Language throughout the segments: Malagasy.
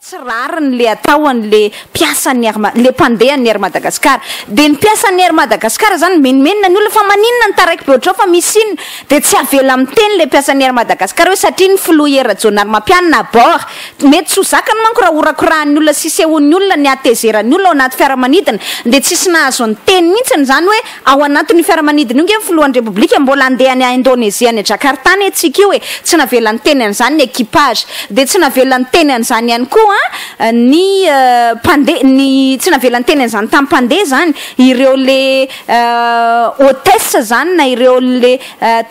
tsy rariny le atao an'le mpiasan'ny Air Ma- le mpandehan'ny Air Madagascar dia ny mpiasan'ny Air Madagascar zany mimenomenona ny olona fa maninona ny taraiky be ohatr'izao fa misy inona dia tsy avela miteny le mpiasan'ny Air Madagascar hoe satria ny filoha Hery Rajaonarimampianina à bord Mety tsy ho zakany manko raha horakorahan'ny olona sy sehoan'ny olona ny hatezeran'ny olona ao anaty fiaramanidina dia tsisy nahazo niteny mihitsy ny zany hoe ao anatin'io fiaramanidina io nge ny filohan'ny repoblika mbola andeha any Indonesia any Jakarta any antsika io e tsy navela niteny an'izany ny equipage dia tsy navela niteny an'izany ihany koa ny mpandeha ny tsy navela niteny an'izany tamin'ny mpandeha zany ireo le hotesse zany na ireo le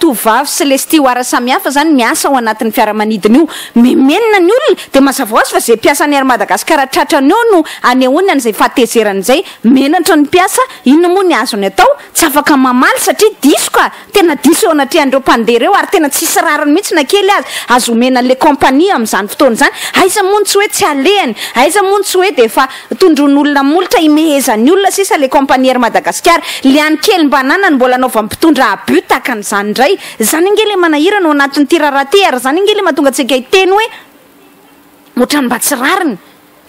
tovovavy sy les steward samihafa zany miasa ao anatin'ny fiaramanidina io, memenina ny olona dia mazava ho azy fa zay mpiasan'ny Air Madagascar tratrany eo no anehoany an'izay fahatezerany izay, menatra ny mpiasa, inona moa ny azony atao, tsy afaka mamaly satria diso ka, tena diso eo anatrehan'ireo mpandeha ireo ary tena tsisy rariny mihitsy na kely aza, azo omena les compagnies amin'izany fotoana izany, aiza moa ny tsy hoe tsy alehany, aiza moa ny tsy hoe dia efa. Tondroin'olona molotra imehezan'ny olona sisa le compagnie Air Madagascar. Le any kely mba ananany mbola anaovan'ny mpitondra abus tahaka an'izany indray. Zany ange le manahirana ao anatin'ity raharaha ty ary zany ange le mahatonga antsika hiteny hoe otrany mba tsy rariny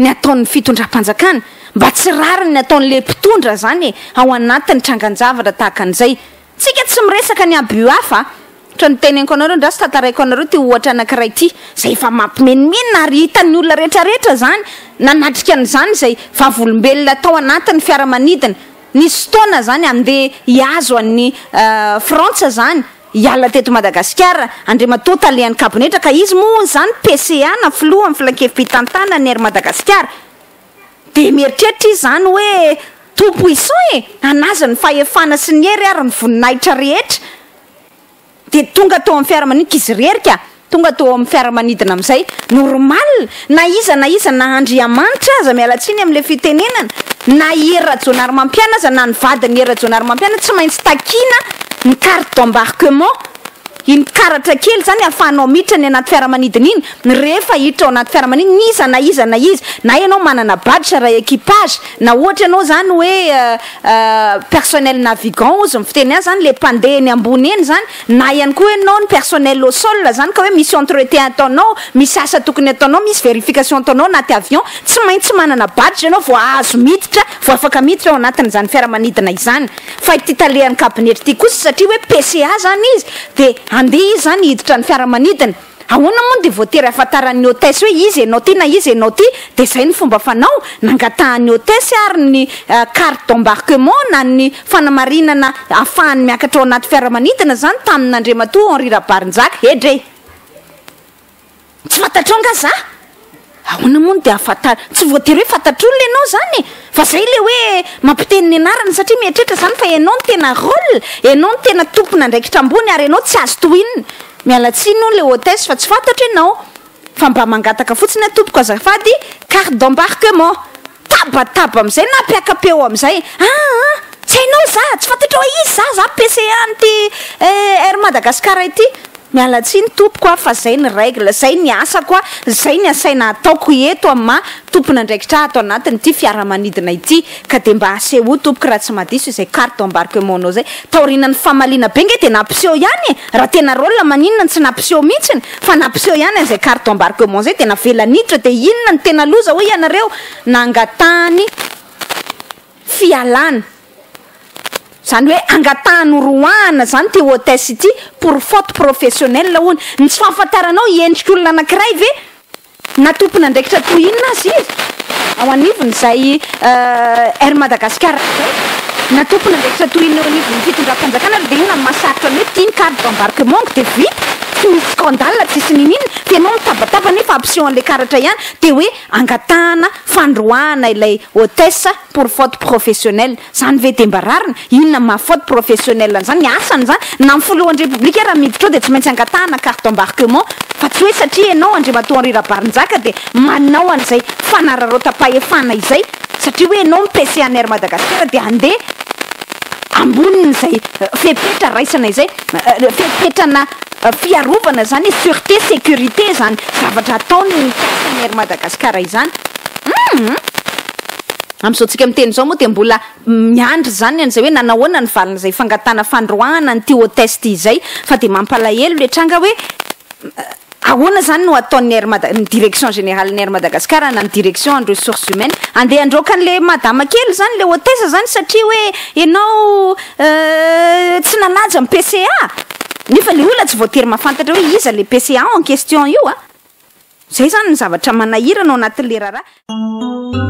ny ataon'ny fitondram-panjakana, mba tsy rariny ny ataon'le mpitondra zany e, ao anatin'ny trangan-javatra tahaka an'izay. Tsika tsy miresaka ny abus hafa a! Ohatra ny teneniko anareo andraso tantaraiko anareo ity ohatra anakiray ity zay efa mampimenomenona ary hitan'ny olona rehetra rehetra zany nanatrika an'izany izay vavolombelona tao anatin'ny fiaramanidina nisy fotoana zany hande hihazo an'i Frantsa zany hiala teto Madagasikara Andriamatoa talehan'ny kabinetra ka izy moa hono zany PCA na filohan'ny filankevi-pitantanan'ny Air Madagasikara Dia mieritreritra izy izany hoe, Tompo Iso e! An'azy ny fahefana sy ny hery ary ny voninahitra rehetra! Dia tonga tao amin'ny fiaramanidina, izy irery ka! Tonga tao amin'ny fiaramanidina amin'izay. Normal! Na iza na iza, na Andriamanitra aza, miala tsiny amin'ilay fitenenana, na i Hery Rajaonarimampiana aza, na ny vadin'i Hery Rajaonarimampiana, tsy maintsy takiana ny carte d'embarquement. Iny karatra kely izany ahafahanao miditra ny anaty fiaramanidina iny, rehefa hiditra ao anaty fiaramanidina iza na iza na iza, na ianao manana badge iray equipage, na ohatra ianao izany hoe personnel navigant ozy ny fiteny azy izany, ilay mpandeha eny ambony eny izany, na ihany koa hoe ianao ny personnel au sol izany ka hoe misy entretien ataonao, misy asa tokony ataonao, misy verification ataonao anaty avion, tsy maintsy manana badge ianao vao azo miditra, vao afaka miditra ao anatin'izany fiaramanidina izany. fa ity talehan'ny kabinety ity kosa satria hoe PCA zany izy de andeha izy zany hiditra ny fiaramanidina ahoana moa no dia voatery hahafantaran'ny hotesse hoe izy ianao ty na izy ianao ty dia zay ny fomba fanao nangatahan'ny hotesse ary ny carte d'embarquement na ny fanamarinana hahafahany miakatra ao anaty fiaramanidina zany tamin'Andriamatoa Henri Rabarinjaka edrey Tsy fantatrao nga za? Ahoana moa no dia hahafantarina? Tsy voatery hoe fantatr'olona ianao izany e! Fa zay ilay hoe mampiteny ny anarana satria mieritreritra izany fa ianao no tena rôle, ianao no tena tompon'andraikitra ambony ary ianao tsy azo tohinina. Miala tsiny hono ilay hôtesse fa tsy fantatro ianao fa mba mangataka fotsiny aho tompoko azafady carte d'embarquement. Tabataba amin'izay na mpiaka-peo eo amin'izay, aa! Tsy hainao za, tsy fantatrao aiza za, za PCA an'ity Air Madagascar ity. Miala tsiny tompoko a fa zay ny règle, zay ny asako a, zay ny asaina ataoko eto am maha tompon'andraikitra ahy ato anatin'ity fiaramanidina ity ka dia mba asehoy tompoko raha tsy mahadiso izay carte d'embarquement nao zay taorianan'ny famaliana be nge dia nampiseho ihany e! raha tena rôle maninona no tsy nampiseho mintsiny fa nampiseho ihany an'izay carte d'embarquement zay dia navela niditra dia inona no tena loza hoy ianareo nangatahany fialana, izany hoe angataha noroahana izany ity hôtesse ity pour faute professionnelle hono, ny tsy fahafantaranao hiendrik'olona anankiray ve na tompon'andraikitra toy inona aza izy ao anivon'izay Air Madagascar izay na tompon'andraikitra toy inona eo anivon'ny fitondram-panjakana ary dia inona no mahasarotra ny hoe ity ny carte d'embarquement dia vita, tsy misy scandale, tsisy nini-nina, dia ianao mitabataba nefa hampiseho an'ilay karatra ihany dia hoe Angatahana fandroahana ilay hôtesse pour faute professionnelle. Zany ve dia mba rariny? Inona ny maha faute professionnelle an'izany? Ny asany zany na ny filohan'ny République ara miditra ao dia tsy maintsy angatahana carte d'embarquement fa tsy hoe satria ianao Andriamatoa Henri Rabarinjaka dia manao an'izay fanararaotam-pahefana izay satria hoe ianao mipese an'Air Madagasikara dia handeha ambonin'izay fepetra raisana izay, fepetrana fiarovana izany, surete, securite izany zavatra ataon'ny mpiasan'ny Air Madagascar izany. Hum! Amin'izao tsika miteny izao moa dia mbola miandry izany an'izay hoe nanahoana ny valin'izay fangatahana fandroahana an'ity hotesse ity izay, fa dia mampalahelo ilay tranga hoe, Ahoana izany no ataon'ny Air Mada, ny direction générale-n'ny Air Madagascar na ny direction en ressources humaines handeha handroaka an'ilay madama kely izany, ilay hôtesse izany satria hoe ianao tsy nanaja ny PCA? Nefa ilay olona tsy voatery mahafantatra hoe iza ilay PCA en question io an! Izay izany ny zavatra manahirana ao anatin'ilay raharaha.